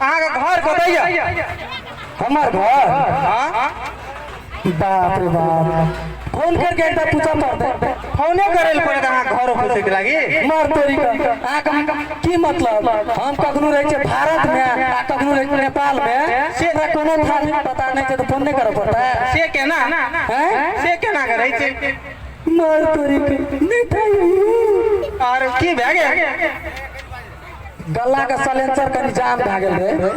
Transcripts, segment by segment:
अहाँके घर कतैया हमर घर हाँ बाप रे बाप फोन करके एकटा पूछा पड़तै फोने करे लए पड़त अहाँ घर खोजे के लागी मार तोरी का अहाँके की मतलब हम कखनो रहै छियै भारत में आ कखनो रहै छियै नेपाल में से हमरा कोनो था नहीं पता नहीं छै तऽ फोन नहि करऽ पड़तै से केना हैं? से केना करै छै मार तोरी का नहि था यही। और की भए गेल गल्ला के सलेंसर कनि जाम भए गेल रहै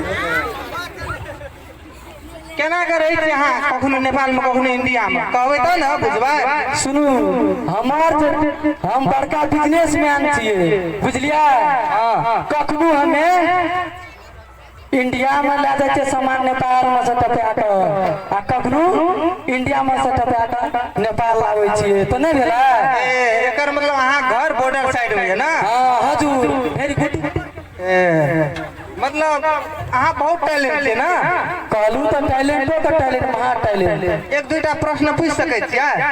केना के रहै छी अहाँ कखनो नेपाल में कखनो इंडिया में कहबै तब ने बुझबै सुनू हमर जे- हम बड़का बिजनेसमैन छियै बुझलियै कखनो हमे इन्डियामे लए जाइ छै सामान नेपालमे से टपा कऽ आ कखनो इन्डियामे से टपा कऽ नेपाल लाबै छियै तऽ नहि भेलै एकर मतलब अहाँ घर बॉर्डर साइड होइए ने हँ हजुर वेरी गुड मतलब अहाँ बहुत टैलेंट छियै ने कहलहुँ तऽ टैलेंटो तऽ टैलेंट महा टैलेंट एक दूटा प्रश्न पूछि सकैत छियै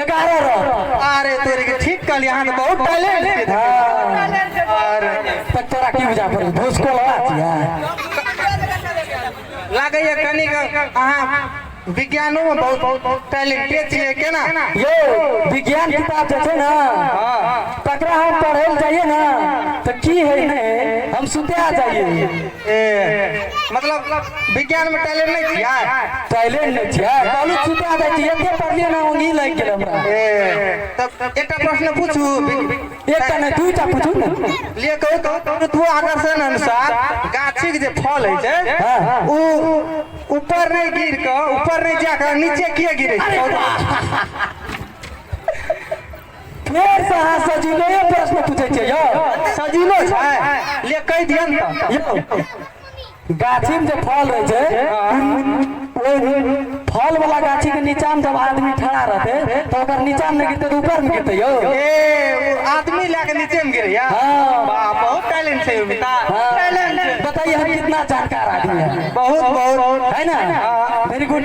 एगारह रन अरे तोरे के ठीक कहली अहाँ तऽ बहुत टैलेंट के धन। अरे तऽ तोरा की बुझा पड़ी भोसको लगा दिया लागैया कनिक अहाँ विज्ञानो में बहुत टैलेंटेड छियै केना यो विज्ञान किताब जे छै ने तकरा हम पढ़ै लए जाइए ने तऽ की है ने हम सुते आ जाइए ए मतलब विज्ञान में टैलेंट नहीं किया टैलेंट नहीं किया कालू छुटा दे कि एते पढ़लिए ना ओंगी लग गेल हमरा ए तब एकटा प्रश्न पूछू एकटा नहीं दूटा पूछू ना लिए कहू तो ऋतु आकर्षण अनुसार गाछी के जे फल है जे हाँ, हाँ। उ ऊपर नहीं गिर के ऊपर नहीं जाकर नीचे किए गिरे छै? फेर से अहाँ सजीलोए प्रश्न पूछै छियै यौ सजीलो छै ले कहि दियन तऽ यौ गाछीमे जे फल रहै छै फल वाला गाछी के नीचा में जब आदमी खड़ा रहते तो ओकर नीचा में गिरते तो ऊपर में गिरते यौ ए आदमी लए के नीचे में गिरैया हाँ। वाह बहुत टैलेंट छै मिता टैलेंट हाँ। बताइए हम कितना जानकार आदमी है बहुत बहुत है ना वेरी गुड